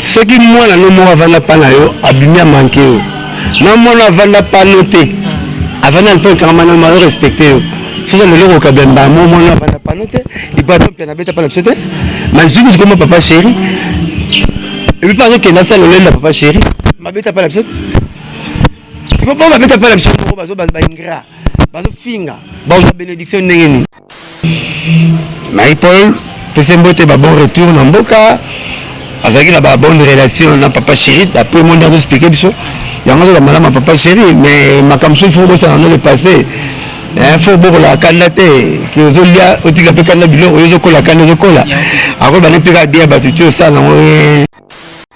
soki mwana no moko avanda mpa na yo abimi amanke yo na mwana avanda mpa no te avanda mpe okangama na malo respecte yo soki lelo okokabila mbala moko mwana avanda mpa no te ipato mpe anabeta mpa na biso te mazwiki zikoma papa chéri epi mpe azokenda asala loleli na papa chéri mabeta mpa na biso te sikopo babeta mpa na biso moko bazo baingra bazofinga bazwa benediction ndenge nini Marie Paul pese mbote ba bon retour na mboka azalaki na ba bonne relation na papa chéri d'après monde azo expliquer biso yango azoka malama papa chéri mais makambo soki fo bosana no le passé eh, fo bokola kanda te ke ozolia otika mpe kanda biloko oyo ezokola kanda ezokola akoyeba ne mpe kaka bia bato ti osala yango eh.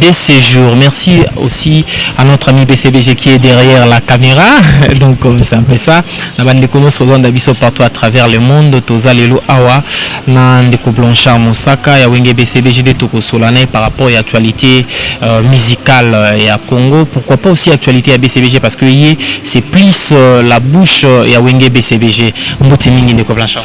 de ces jours merci aussi à notre ami BCBG qui est derrière la caméra donc euh, c'est un peu ça na bande kono sozanda biso partout à travers le monde toza lelo awa na ndeko Blanchard Mosaka ya wenge BCBG de toko solana par rapport à l'actualité euh, musicale euh, ya Congo pourquoi pas aussi actualité à BCBG parce que c'est plus euh, la bouche euh, ya wenge BCBG mbote mingi ndeko Blanchard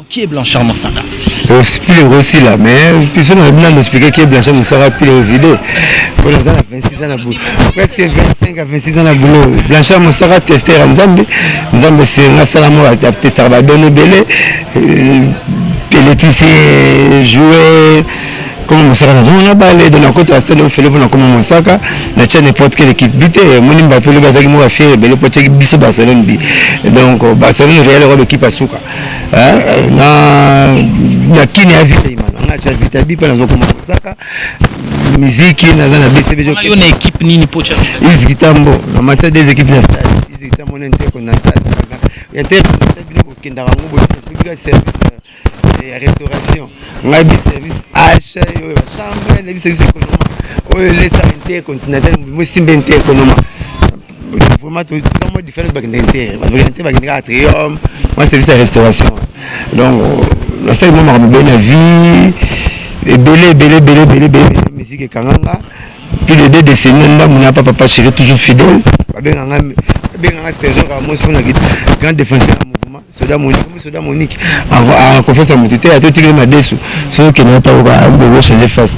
Qui est Blanchard Mosaka? Esprit yango esila mais biso na bino expliquer qui est Blanchard Mosaka puis le vide. Pour naza na 26 ans na boulot. Presque 25 à 26 ans na boulot. Blanchard Mosaka tester ya Nzambe. Nzambe senga sala mo tester ba donne belé. Euh, Pelletisier jouer comme mosaka na zongo na bale donc nakota ya stade ofele mpona koma mosaka na tia n'importe quelle équipe bi te moni mbape lobi azalaki moko ya fiere ebele mpo atiaki biso barcelone bi donc barcelone real ekoba ekipe ya suka eh, na na kini ya vita imana nga cha vita bipa nazo koma saka miziki naza na bcb jo yo na equipe nini pocha iziki tambo na matière des équipes na stade iziki tambo na nteko na stade ya te bino bokendaka ngo boye bika service eh, ya restauration ngai bi service h oyo ba chambre na bi service ekonoma oyo elesa nteko na tali mosimbe nteko noma vraiment toza mwa différence bakendeke te bato bakende te bakendeke atrium mwa service ya restauration donc nasali mwa makambo ebele na vie ebele ebele ebele ebele ebele miziki ekanganga plus de deux décennies na ndambo na papa papa chéri toujours fidèle babenganga babenganga sergent karamosi mpona grand défenseur ya mouvement soda monique mbi soda monique a confiance ya moto te ata otikeli madesu soki okende atakoka ayebi koko change face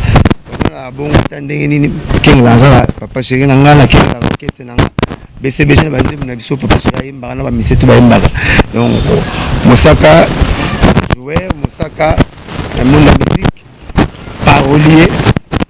omonaka bongo ata ndenge nini kengela kaka papa sheri na ngai nakengela orkestre na ngai besebese na banzembo na biso papa sheri ayembaka na bamisetu bayembaka donc mosaka joueur mosaka na monde ya musique parolier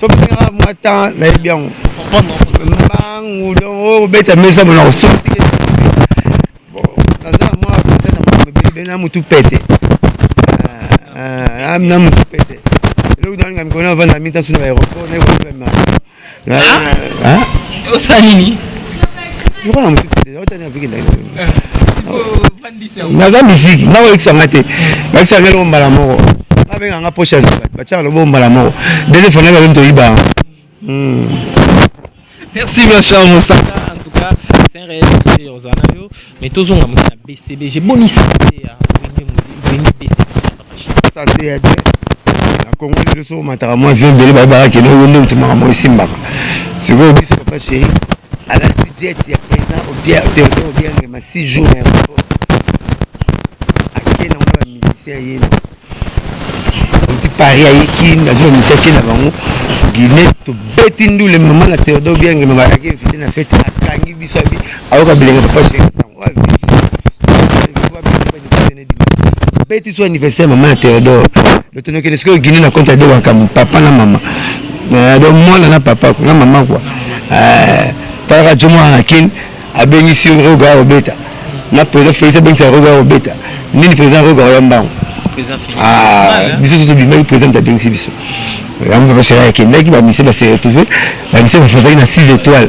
soki nanga mwa temps nayebi yango mbangu donc oyo kobeta mesa mona kosima tike naza na mwa avantage ya makambo ebele ebele na motu pete ah, ah, na motu pete eloko nalinga mikolo navanda mita suna ba aéroport nayekoema osala nini lokola motu pete otani aviki ndai naza miziki nga oyokisa nga te bakisa nga eloko mbala moko babenga nga poche ya zamba batiaka loboko mbala moko deuxième fois nayebi bazo toyiba yango hmm. merci ma cher mosaka en tout cas c'est un réel plaisir ozala na yo mais tozonga moke na bcbg bonisa te ya wenge bcbg sante ya bien na congo lelo soki omataka mwa vie ebele bayebaka kende oyo nde otemaka mwa esimbaka sikoyo biso papa sheri alati jet ya président obiange obiange ma six jour na aéroport ake nango na bamusicien ye oti paris aye kin azwa musicien ake na bango guinée tobeti ndule mama na théodore obiange mama ayaki invité na fete akangi biso abi ayoka bilenga papa sheri sango avivi beti so anniversaire mama ya Theodore lotonokende sikoyo Guinée na compte ya de wakambo papa na mama eh, donc mwana na papa ko na mama kwa eh, talaka jo mwana na kin abengisi roga ya obeta na président Félix abengisa roga ya obeta nini président roga ya mbango ah, biso so tobimaki président abengisi biso yango papa sera akendaki bamise baseretrouve bamise bafasaki na 6 étoiles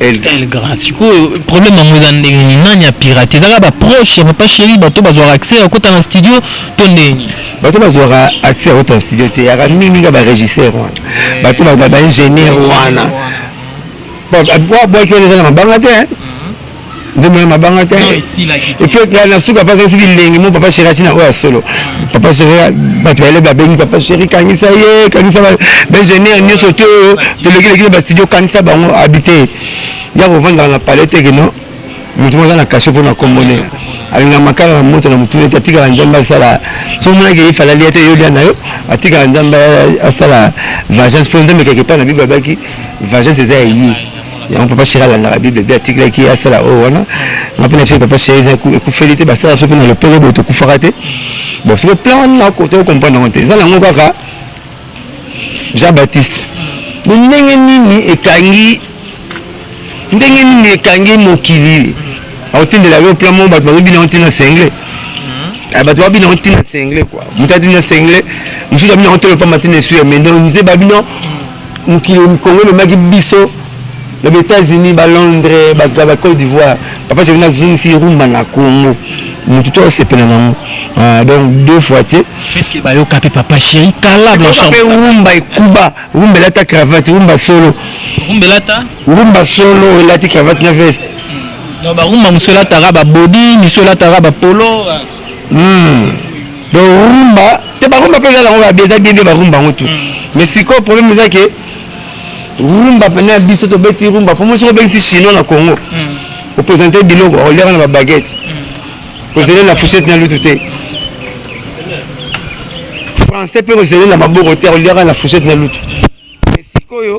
El grand sikoyo problème yango eza ndenge nini nani apirate ezaka ba proche ya papa chéri bato bazwaka accès ya kota na studio to ndenge nini bato bazwaka accès ya kota na studio te yaka mingimingi ba régisseur wana bato ba ingénieur wana abwaki wana eza na mabanga te nzembo ya mabanga te epuis na na suka mpe azangisi bilengi mo papa sheri atina oyo ya solo papa sheri bato bayele babengi papa sheri kangisa ye kangisa baingénieur nyonso te oyo tolekileki na bastudio kangisa bango abite ya kovandaka na palais te keno moto moko aza na kasho mpo na kombo nde alingaka makala na moto na motuna ete atikala nzambe asala so omonaki ye falali ete yo lia na yo atikala nzambe asala vagence mpo nzambe keke epai na bible abaki vagence eza ya ye yango papa sheri alandaka bible mpe atikelaki ye asala oyo oh, wana nga mpe nabiso papa sheri eza ekufeli te basala biso mpe na lopele boye tokufaka te bon soki plan wana nakoto comprendre yango te eza nango kaka jean baptiste bo ndenge nini ekangi ndenge nini ekangi mokili akotindela yo plan moko bato bazobina yango ntina sengle hmm. ah, bato babina yango ntina sengle kua moto abina sengle mosusu abina yango tolo pamba ntina esu ya mende nzeba bino mokili congo ememaki biso na ba etats unis ba londres bato ya ba cote d'ivoire papa jevi nazongisi rumba na congo motu to asepela nango ah, donc deux fois te bayoka mpe papa chéri kala blanchmpe rumba ekuba rumba elata cravate rumba solo rumba solo elati cravate na veste hmm. barumba mosu elataka babodi misu elataka bapolo hmm. donc rumba te barumba mpe eza nango eza bien bien barumba yango tu mais sikoyo problème eza ke rumba mpena ya biso tobeti rumba mpo mosi obengisi chinois na congo opresente biloko akolyaka na babaguette kozele na fuchette na lutu te français mpe kozele na maboko te akolyaka na fuchette na lutu mais sikoyo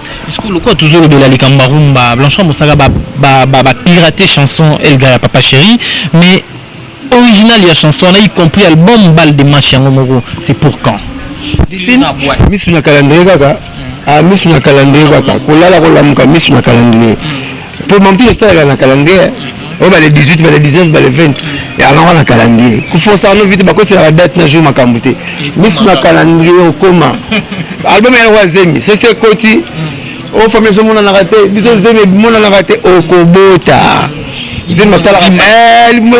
Sikoyo lokola tozolobela likambo ya rumba, Blanchard Mosaka ba, ba, ba, ba pirate chanson Elga ya Papa Chéri, mais original ya chanson wana, y compris album Balle de match yango moko, c'est pour quand? Misu na calendrier kaka, ah misu na calendrier kaka, kolala kolamuka misu na calendrier. Pour mon tour, ça, la calendrier. oyo bale 18 bale 19 bale 20 yango na calendrier kofosa yango vite bakosela badate na jour makambo te misu na calendrier okoma album yango ya zemi sosi ekoti o fami biso monanaka te biso zemi emonanaka te okobota zemi batalaka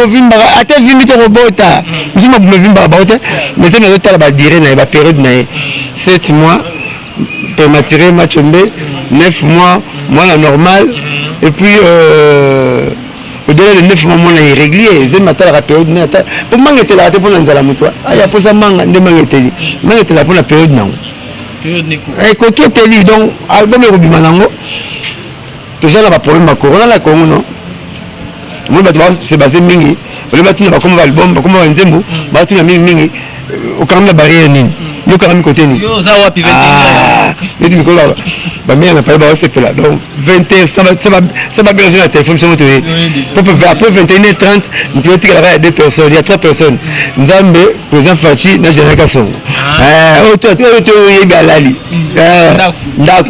ovimbaka eh, ata vimbi te okobota biso mabuma evimbaka bango te mais zemi azotala badire na ye baperiode na ye 7 mois Premature match mbe 9 mois mwana normal et puis euh, au-delà de 9 mois mwana irrégulier ezemi atalaka periode na ata mpo manga etelaka te mpo na nzala moto aya ah, mposa manga nde manga eteli manga etelaka mpo na periode nango ekoki eteli donc album ekobima nango toza na ba problème ya corona na congo no omoni bato base base mingi olie batuna bakoma ba album bakoma ba nzembo batuna mingi mingi okangami na barrière nini yo okangami kote nini ah, neti mikolo bamere na pale baosepela donc 20 heures sa baberge na téléphone somo toye après 21 heures 30 mokilo otikalaka ya deux personnes ya trois personnes nzambe président faci na général kasongo ah. eh, oyo toyebi alali hmm. eh, ndako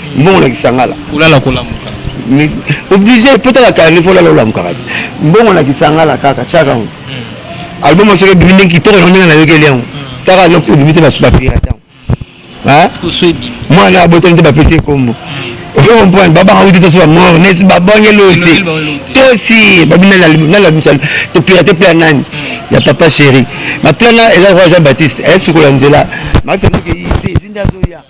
mbongo na kisangala kolala kolamuka oblige po tala kala nefo olala olamukaka te mbongo na kisangala kaka tiaka yango hmm. album asoki ebimi ndenge kitoko yango ndenge nayokeli yango hmm. kaka noko ebimi te bapirata yango mwana abotami te bapesi ekombo hmm. oyo comprendre babaka kuti tosi bamor nesi babongeli oyo te tosi babimi nalabisa topirate mpe ya nani ya papa chéri maplana eza kwa jean baptiste ayesikola nzela makisa ndoki te ezinda azoya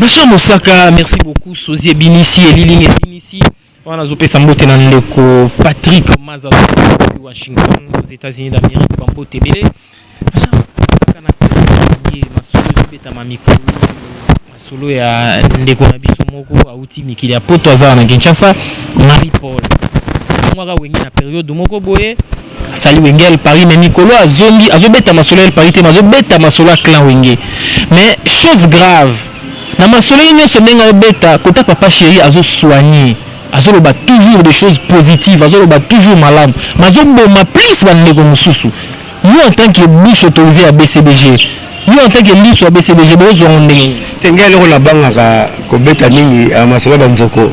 Ma chère Mosaka, merci beaucoup. Sosie Binisi, Eliline Binisi. On a zopé sambote na ndeko Patrick Maza depuis Washington aux États-Unis d'Amérique bambo tebele. Ma chère Mosaka na kati ma solo zobeta ma mikolo. Ma solo ya ndeko na biso moko auti mikili ya poto azala na Kinshasa, Marie Paul. Mwaka wengi na période moko boye. Salut wenge el paris mais mikolo azongi azobeta masolo el paris te mais azobeta masolo ya clan wenge mais chose grave na masolo ye nyonso ndenge aobeta kota papa chéri azosoigne azoloba toujours des choses positives azoloba toujours malamu mais azoboma plus bandeko mosusu yo en tant que bouche autorisée ya bcbg Yo en tant que lisu ya BCBG bo zwa ngo ndenge nini? Te ngai eloko na bangaka ko beta mingi a masolo ba nzoko.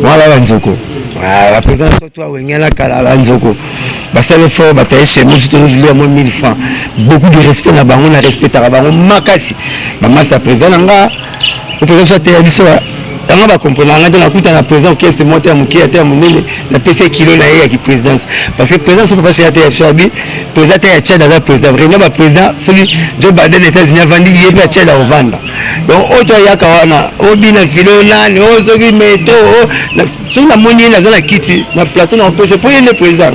Mwa ba nzoko. Ah, ba president to to wenge na kala ba nzoko. Ba sale fort ba taye chez nous to lieu mo 1000 francs. Beaucoup de respect na bango na respectaka bango makasi. Ba masa president na nga Opeza biso ateya biso yango bakomprena ngai te nakuta na président orchestre moko te ya moke ata ya monene napesi ye kilo na ye ya kiprésidence parce que président soki papa soyate ya biso abi président te ya tchad aza président vraiment baprésident soki joe biden états-unis avandi ye mpe ya tchad akovanda donc oyo to ayaka wana obina filo nani oyo soki meto soki namoni ye naza na kiti na plateau na opesa mpo ye nde président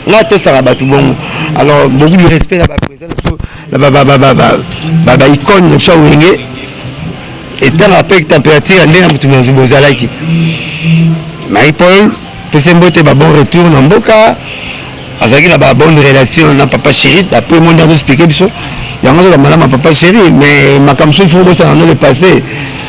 ngai atosaka bato bongo alors beaucoup du respect na baprésident na biso ba icone na so wenge etanga mpe température ya ndenge ya motu motu bozalaki marie paul pese mbote ba bon retour na mboka azalaki na ba bonne relation na papa chéri d'après monde azoexplike biso yango azoka malamu ya papa chéri mais makambo mosusu fo bosana no le passé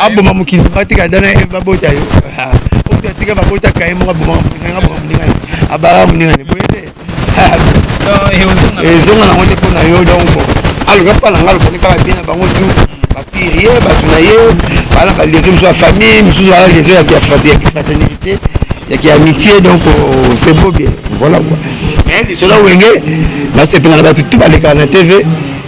aboma mokili batika dana eve babota yo oyo atika babota kaye moko aboma moninga aboma moninga ne abala moninga ne boye te ezonga nango te mpo na yo donc bon aloka mpa na ngai alobani kaka bien na bango tu bapire ye bato na ye baa na baliaison mosusu ya famille mosusu baa liaison ya kifraternité ya kiamitié donc oh, c'est beau bien voilà quoi mais lisolo wenge nasepela na bato tu balekaka na tv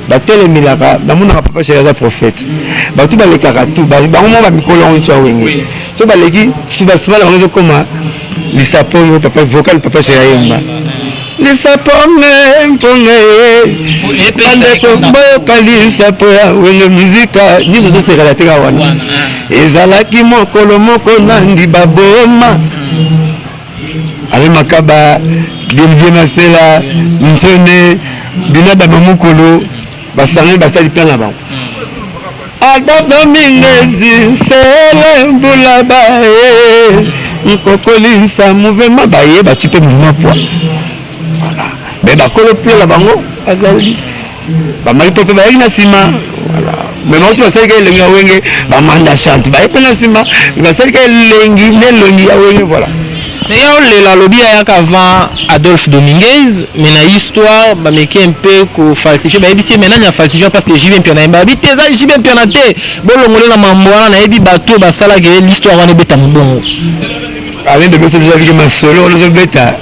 batelemelaka namonaka papa sheri aza prophète bato balekaka tu bango moko bamikolo yango nso ya wenge so baleki subasima na bango ezokoma lisapo yo papa vocal papa sheri ayemba lisapo nge mponga ye bandeko boyokali lisapo ya wenge muzika nyonso ezosekala teka wana ezalaki mokolo moko nandi baboma Alain Makaba, Didier Masela, Ntsone, Binada Mamukulu, basangani basali plan na bango. Adolphe Mindezi, Sele Mbula Baye, Nkokolisa mouvement baye batipe mouvement poids. Voilà. Mais bakolo plan na bango bazali bamai pepe bayaki na nsima me mauti basalika elengi ya wenge bamanda chante baye mpe na nsima basalika elengi na elongi ya wenge voilà naye olela alobi ayaka avant adolphe dominguez mais na histoire bameki mpe kofalsifie bayebisi ye mai nani afalsifia parce que jb mpiana ye babi te eza jb mpiana te bolongole na mambo wana nayebi bato oyo basalaka ye l'histoire wana ebeta mobongo Alain Dodo soki ozalaki masolo wana ozobeta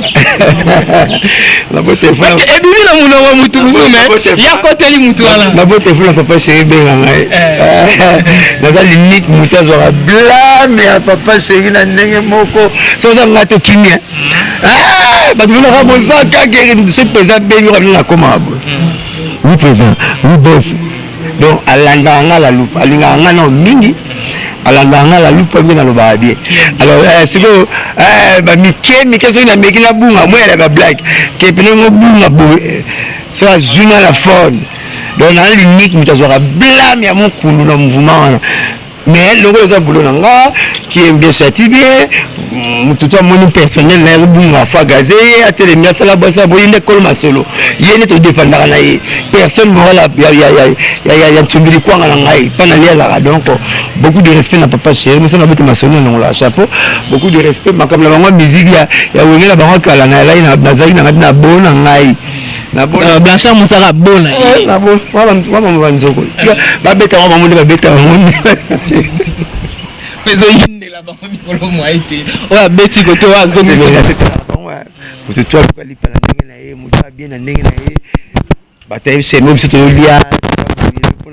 ebimi na monoko motu mosusu me yakoteli motu wana nabota efula papa sheri benga ngai naza limite motu azwaka blame ya papa sheri na ndenge moko so oza ngai to kimia bato monaka boza kaka soki mpenza bengi okamina nakomaka boye oui président oui boss donc alandaka nga la loupe alingaka nga nao mingi alandaka nga la loupe mpe nalobaka bien alors eh, sikoyo eh, bamike mike soki nameki nabunga moya na bablake ke pene ngo bunga boye eh, so azwi nga na fone donc nalingi moto azwaka blame ya mokulu na mouvement wana mais longola eza bulo na nga kiembesati bien motu to amoni personnel na ye azobunga afa gaze ye atelemi asala bwasi aboyi nde kolo masolo ye nde todepandaka na ye personne moral ya nsumbi likwanga na ngai mpa nalialaka donc beaucoup de respect na papa chéri moso nabete masolo na longolaka chapeau beaucoup de respect makambo na bango ya miziki ya wenge na bango kala nayalaki nazalaki na ngai na bo na ngai Euh, blanchard mosaka bona eh, wabama banzoko babeta bango bango nde babeta bango nde ezoyindela bango mikolo mwai te oyo abeti koto oyo azomilipala ndenge na ye moto abie na ndenge na ye batayebisa yango biso tozolia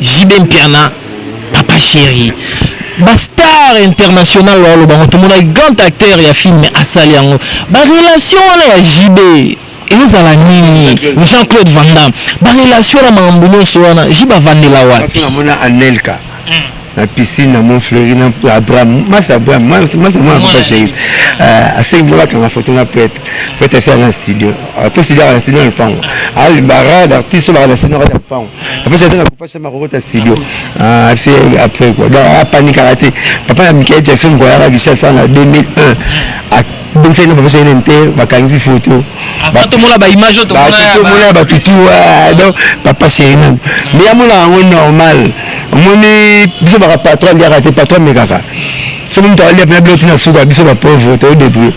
JB Mpiana papa cheri ba star international oyo aloba yango tomonaki grand acteur ya film asali yango ba relation wana ya JB ezala nini Jean Claude Van Damme ba relation na makambo nyonso wana JB avandela wapi namona Anelka na piscine na mont fleuri na abraham masa abraham masa mwana papa shahid asengi mpo bakanga foto na prêtre prêtre abisala na studio mpo studio aka na studio na lopango alimba rade artiste oyo baka na studio na kati ya lopango papa jaza na papa shama kokota studio ah, apse après quoi donc apanikaka te papa ya michael jackson koyaka kishasa na 2001 abongisaki na papa shama te bakangisi foto tomona baimage oyo tomona ya bato tu donc papa sheri nanu mais amonaka yango normal omoni biso baka patron aliaka te patron amekaka soki moto alia mpena biloko tina suka biso bapauvre toodeprie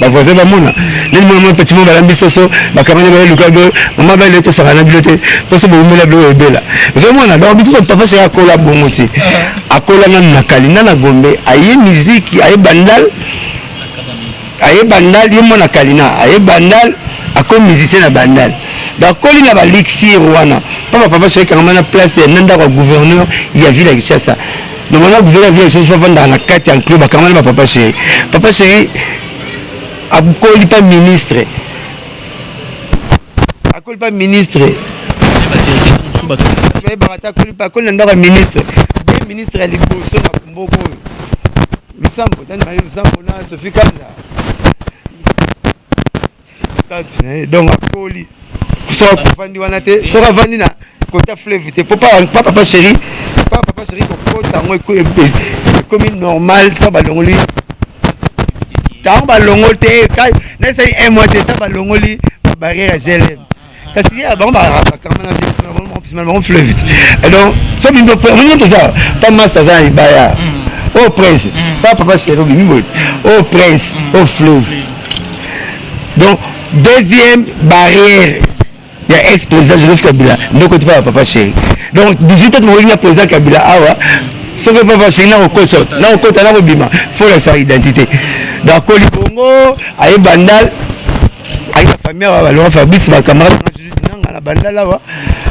Ba voisin ba mona nini mona mwa petit mwa balambi soso bakamani ba eluka bo mama ba lete saka na bilo te poso bo umela bilo ebela zo mona donc biso papa sha kola bongo ti akola na na kali na na gombe aye miziki aye bandal aye bandal ye mwana kalina aye bandal ako musicien na bandal bakoli na balixir wana mpo bapapa soki kangama na place na ndako ya gouverneur ya ville ya kinshasa Normalement gouverneur vient ici fafanda na kati ya enclos bakangana ba papa chéri. Papa chéri akoli pas ministre. Akoli pas ministre. Mais barata akoli pas akoli na ndako ya ministre. Bien ministre ya liboso na kumboko oyo. Lusambo, tani maye Lusambo na Sophie Kanda. tante na ye donc akoli soki akofandi wana te soki avandi na kota fleuve te po papa chéri papa papa chéri kokota yango ekomi normal to balongoli ntango balongoli te naesali un mois te ntango balongoli babarrière ya glm kasi ye bango bakangana bango fleuve donc so bino toza pa masta aza na libaya o oh, prince mm. pa papa chéri obimi boye o oh, prince o mm. oh, fleuve donc deuxième barrière ya ex président joseph kabila ndoko ti papa papa chéri donc 18 ans tomokolinga président kabila awa soki papa chéri nakokota nakokota nakobima fo lakisa identité donc akoli bongo aye bandal ayi ba famille awa ba longa fabrice ba camarade nanga na bandala wa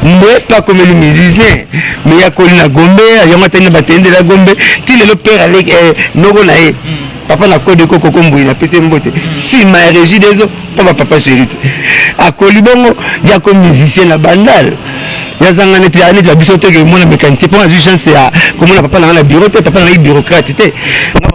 mbe pa komeli musicien me ya koli na gombe yango atani na batende la gombe ti lelo père alek eh, noko na ye mm. papa na code ko koko mbuyi na pese mbote mm. sima ya régie des eaux pa ba papa chérite akoli bongo ya ko musicien na bandala yazanga neti aneti na biso te ke mona mécanicien mpo nazwi chance ya komona papa nanga na bureau te papa nangai bureaucrate te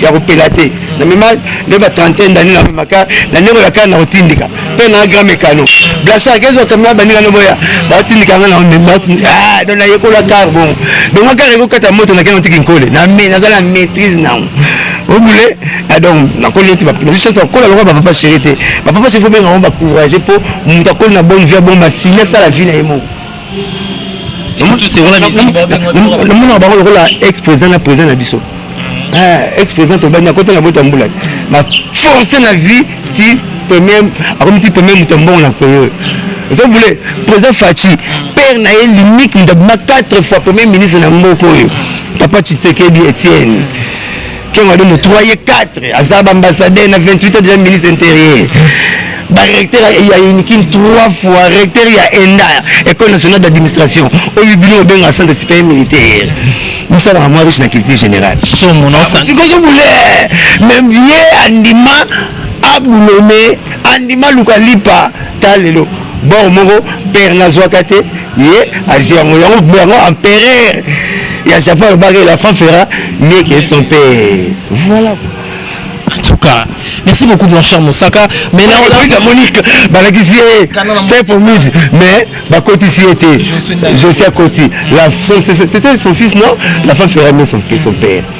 ya kopela te na mema nde ba trentaine d'année na memaka na ndenge ya kala na kotindika mpe na grand mekano blasar kezo kamera baninga no boya batindika nga na ah, don nayekola kar bongo donc nga kar ekokata moto na kena otiki nkole naza na maîtrise nango obule ah, donc nakoli ete nazosensa kokola lokola bapapa chéri te bapapa chéri fo benga ngo bacourage mpo moto akoli na bonne vie ya bongo masili asala vie na ye moko namonaka bango lokola ex président na président na biso mhm. eh, ex président tobandi akota na bota mbula na force na vie ti premier akomi ti premier moto ya mbongo na pays oyo ozo bule président faci mhm. père na ye limite moto abima 4 fois premier ministre na mboka oyo mhm. papa tshisekedi etienne Ken Wadongo 3 ye 4 aza ba ambassadeur na 28 deja ministre interieur barecteur ya unikin 3 fois recteur ya enda école nationale d'administration oyo bino obenga centre supérieur militaire mosalaka mwa riche na culture générale somo naosikoki bule meme ye andima abulome andima luka lipa ta lelo bor moko pere nazwaka te ye azwi yango yango bo yango empereur ya japon alobaka la fan fera mieux que son père voilà en tout cas merci beaucoup mon cher mosaka mais là on a monique balakisi ye très promise mais bakotisi ye te josia koti c'était son fils non la femme fera mieux que son père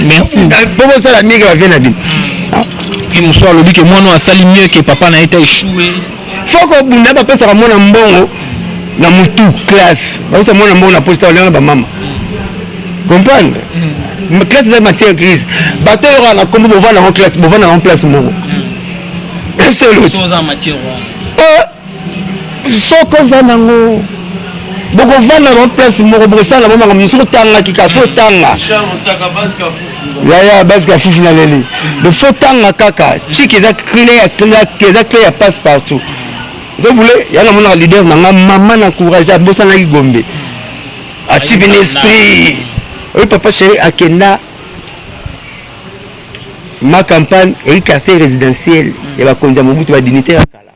merci po bosala mieux ke bavie na bino ye mosusu alobi ke mwana asali mieux ke papa na ye ta echoue foko obunda bapesaka mwana mbongo na mutu classe bapesa mwana mbongo na posta olengana bamama comprendre mm. classe eza matière grise bato oyo kaka na kombo bovanda yango classe bovanda yango place moko mm. esolo ti Soki oza nango bokovanda na place moko bokosala bango makambo mosusu otangaki kaka fo otanga yaya basi kafufu na leli me fo otanga kaka chiki eza clair clair eza clair ya passe partout ozo bule ya namonaka leader na nga mama na courage abosanaki gombe atipi na esprit oyo papa chéri akenda ma campagne eki quartier résidentiel ya bakonzi ya mobutu badignitaire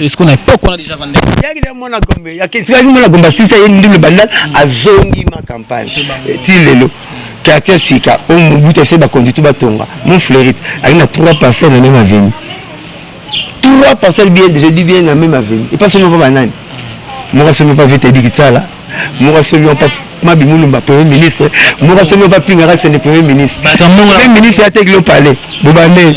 Eskona epoque wana déjà vanda. Yaki le mwana gombe, yaki sikaki mwana gombe asisa ye ndule bandal azongi ma campagne. Ti lelo quartier sika o mubuta se ba konditu batonga. Mon fleurite ali na trois parcelles na même avenue. Trois parcelles bien, je dis bien na même avenue. Et pas seulement pas banani. Moko somi pas vite dit kitala. Moko somi pas mabi mulumba premier ministre moko somi pas pingaka c'est le premier ministre. Premier ministre atekilo palais. Bobane.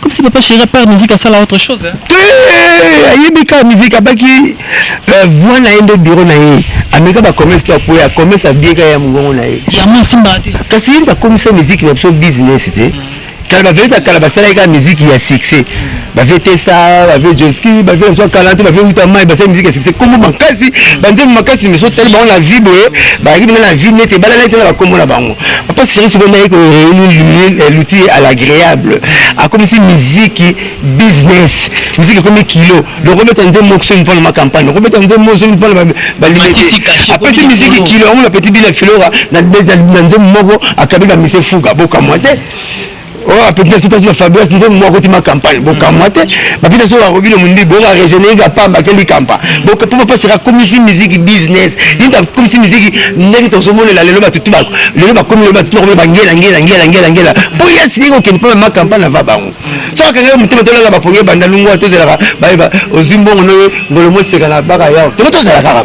Comme si papa chéri par musique asala autre chose. Hein? Te ayebi kaka musique abaki euh, voix na ye nde bureau na ye ameka bacommerce to akoya commerce abie kaka ya mongongo na ye kasi ye nde akomisa musique na biso business te kala baverite ya kala basalaki kaka musique ya succès bavie tesa bavie joski bavie na biso kala te bavie wuta mai basali musique ya succès kombo makasi banzembo makasi miso tali bango na vie boye bayaki bina na vie nete ebalala ete na bakombo na bango papa seri sikoyo naye ko reunir eh, l'outil à l'agréable akomisi miziki business miziki ekomi kilo donc obeta nzembo okosomi mpo na macampagne okobeta nzembo ozomi mpo na balibete apesi miziki kilo yango na petit bina filora na nzembo moko akabi na mise fuga bokamwa te oyo oh, apeti na biso tasi na fabrias nzembo moko akotima campagne bokamwa te bapita soki bakobino mondi bongo aregénérika pamba akeli kampa po papa sera akomisi miziki business yinda akomisi miziki ndenge tozomonela lelo batutu bako lelo bakomi lelo batutu bakomi bangela ngela ngela ngela ngela po ye asili kokende mpo mama campagne ava bango so akanga yo motema tolala bapongi ebanda lungwa tozalaka bayeba ozwi mbongo noyo ngolo moseka na baka yao tobo tozala kaka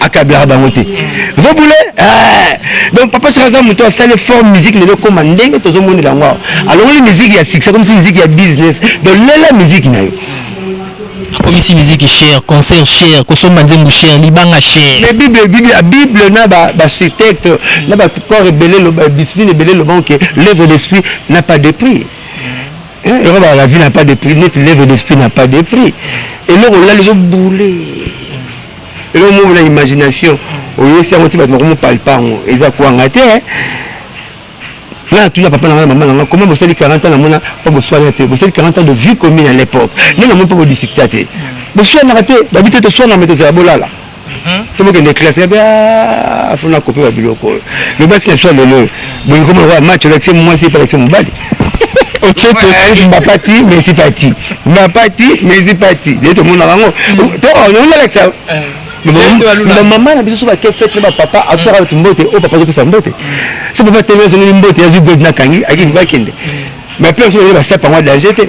akablaka bango te ozo bule eh. donc papa chaka aza moto asali fort musique lelo ekoma ndenge tozomonela yango awa alongoli musique ya succès comme si musique ya business donc lela musique na yo akomisi miziki cher concert cher kosomba nzembo cher libanga cher mais bible bible la bible na ba architecte na ba corps ebele loba discipline ebele loba que l'œuvre d'esprit n'a pas de prix yango ba la vie n'a pas de prix neti l'œuvre d'esprit n'a pas de prix eloko olali ezo boule eloko moko na imagination oyesi yango ti bato nakomopalpa yango eza kwanga te nga natuna papa na nga na mama na nga koma bosali 40 ans namona mpo boswana te bosali 40 ans de vie commune à l'époque nde namoni mpo bodiscta te boswanaka te babi te toswana me tozala bolala mhm. tobokende classe yabe ah, fona kope ba biloko oyo lobasi na biso ya lelo oyo bolingi koma match olakisi mwasi epe alakisi mobali ocote mbapati mesi pati mbapati mesi pati ye tomona bango toonalakisa na mama na biso so bake fete na bapapa atusaka bato mbote oyo papa azopesa mbote so papa tele azongeli mbote azwi god na kangi akende bakende mais mpe asobaye basapa yango danger te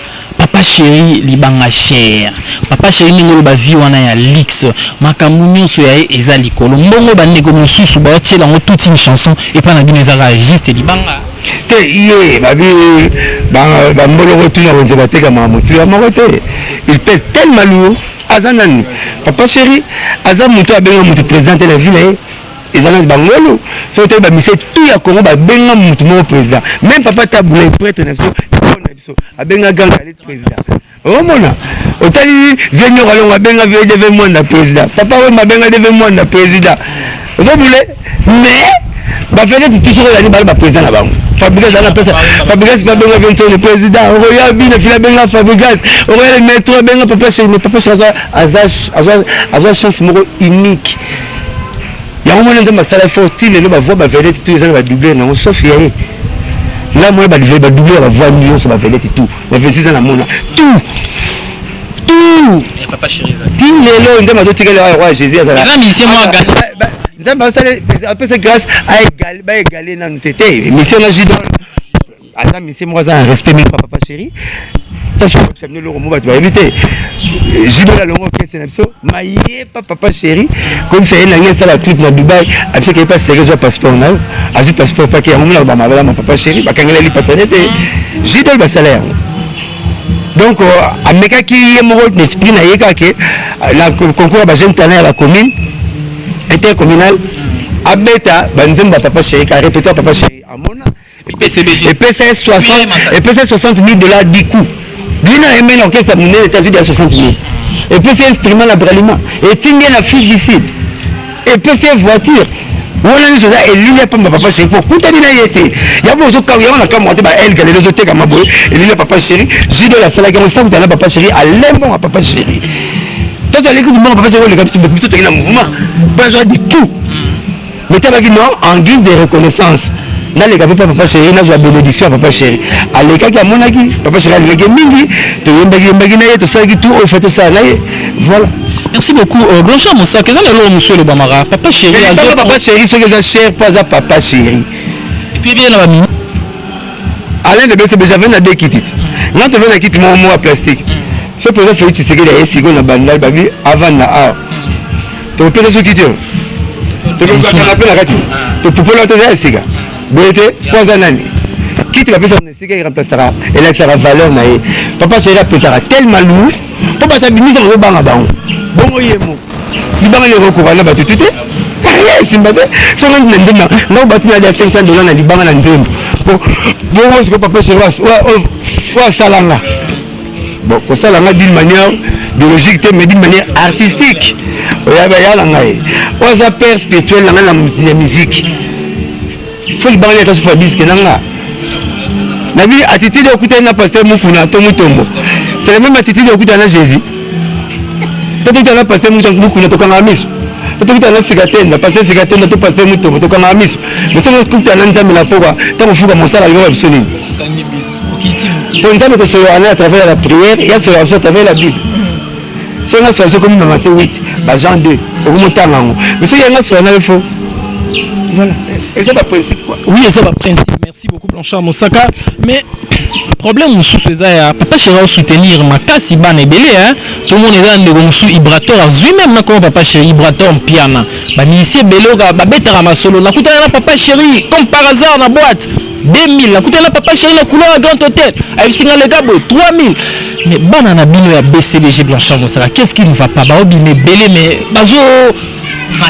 Papa cheri libanga cher. Papa cheri ndenge oloba vie wana ya luxe makambu nionso ya ye eza likolo mbongo ba ndeko mususu bao tiela ngo toute une chanson epa na bino eza kaka juste libanga? Te yy ba bi ba ba mboloko tuna wenze ba tekama mutuya moko te il pèse tellement lourd aza nani papa cheri aza mutu abenga mutu president te na vie na ye eza nani bangolu soki toyebi ba misie tout ya congo ba benga mutu moko president meme papa tabula ye prêtre na biso biso abenga grand kalit president omona otali vie nyoko alongo abenga vie deve mwanda president papa wemba abenga deve mwanda president ozobule mais bavedete tuso oyani bali bapresident na bango fabrigas ana pesa fabrigas mpe abenga vie ntoni president okoya bina fili abenga fabrigas okoya le metro abenga papa sheri mais papa sheri azwa chance moko unique yango mwana nzambe asala fort ti lelo bavoi bavedete tu eza na badouble nango sauf ya ye nga mwana badouble ya bavoi nyonso bavedete tu bavesi eza na mona tout tout ti lelo nzambe azotikela ya roi jésus azala nzambe apesa grâce baegale nanu te te mission na judon aza misie moko aza na respect meme pa papa chéri tosoyebisa bino eloko mo bato bayebi te jubela longo orchestre na biso mayepa papa chéri komisa ye nange esala clip na dubai abisaka ye pa seke zwa passeport na yo azwi passeport pake yango monaka bamabala ma papa chéri bakangeleli pasane te jubel basala yango donc euh, amekaki ye moko na esprit na ye kake na concours ya bajeune talent ya bacommune intercommunal abeta banzembo ya papa chéri ka répétoire papa chéri amona epesa ye 60 mille dollars du coup bino na mn orchestre monene etazudi ya 60 mille epesa ye instrument na bralima etindi ye na afrique du sud epesa ye voiture wana nyonso eza elili ya pamba papa sheri po kutani na ye te yango ozokamwa yango nakamwa te baelga lelo ezotekama boye elili ya papa sheri jidol asalaki yango sakutana na papa sheri alembonga papa sheri tozo aleki limbongo papa sheri oleka biso toki na mouvement mpo azwa du coup Mitema kino en guise de reconnaissance naleka mpe mpa papa chéri nazwa benediction ya papa chéri alekaki amonaki papa chéri alekaki mingi toyembaki yembaki na ye tosalaki tout oyo fa tosala na ye voilà merci beaucoup euh, blanchard mosaka eza na eloko mosusu elobamaka papa chéri papa chéri soki eza cher mpo aza papa chéri epuis ebele na bamini alain de bese bejave na de kiti ti nga tove na kiti moko moko ya plastique mm. soki mpenza feli tshisekedi aye sikoyo na bandal babi avant na awa topesa soki te tokokakana mpe na kati topupola toza ya sika boye te mpo aza nani kiti bapesaka na esika eremplasaka elakisaka valeur na ye papa sheri apesaka telema lu mpo bato abimisa kozobanga bango bongo ye moko libanga nde ekokoka na bato te te esimba te songo na nzembo ngai bato nali ya 500 dola na libanga na nzembo bongo sikoyo papa sheri oyo asalanga Bon, kosala nga d'une manière biologique te mais d'une manière artistique oyaba ya na ngai oyo aza père spirituel na ngai na musique fo libanga nini akasufa diske na nga na bino attitude okutani na pasteur mokuna to motombo c'est la même attitude okutana na jésus to tokutana na pasteur mokuna tokangaka miso to tokutana na sikatenda pasteur sikatenda to pasteur motombo tokangaka miso mais soki okutana na nzambe na poka ntango ofuka mosala libaka biso nini mpo nzambe tosolola na travers ya bapriere ya solola biso travers la bible soki nga sola sokomi na mate 8 bajean 2 okomi otanga yango mais soki yanga sola na yo fo voilà eza baprincipe quoi oui eza baprincipe merci beaucoup blanchard mosaka mais problème mosusu eza ya papa chéri osoutenir makasi bana ebele hein tomona eza na ndeko mosusu ibrator azwi meme nakoma papa chéri ibrator mpiana bamilisi ebele oka babetaka masolo nakutana na papa chéri comme par hasard na boîte 2000 nakutana na papa chéri na couloir ya grand hôtel ayebisi nga lega boye 3000 mais bana na bino ya bcbg blanchard mosaka qu'est ce qui ne va pas baobima ebele mais bazo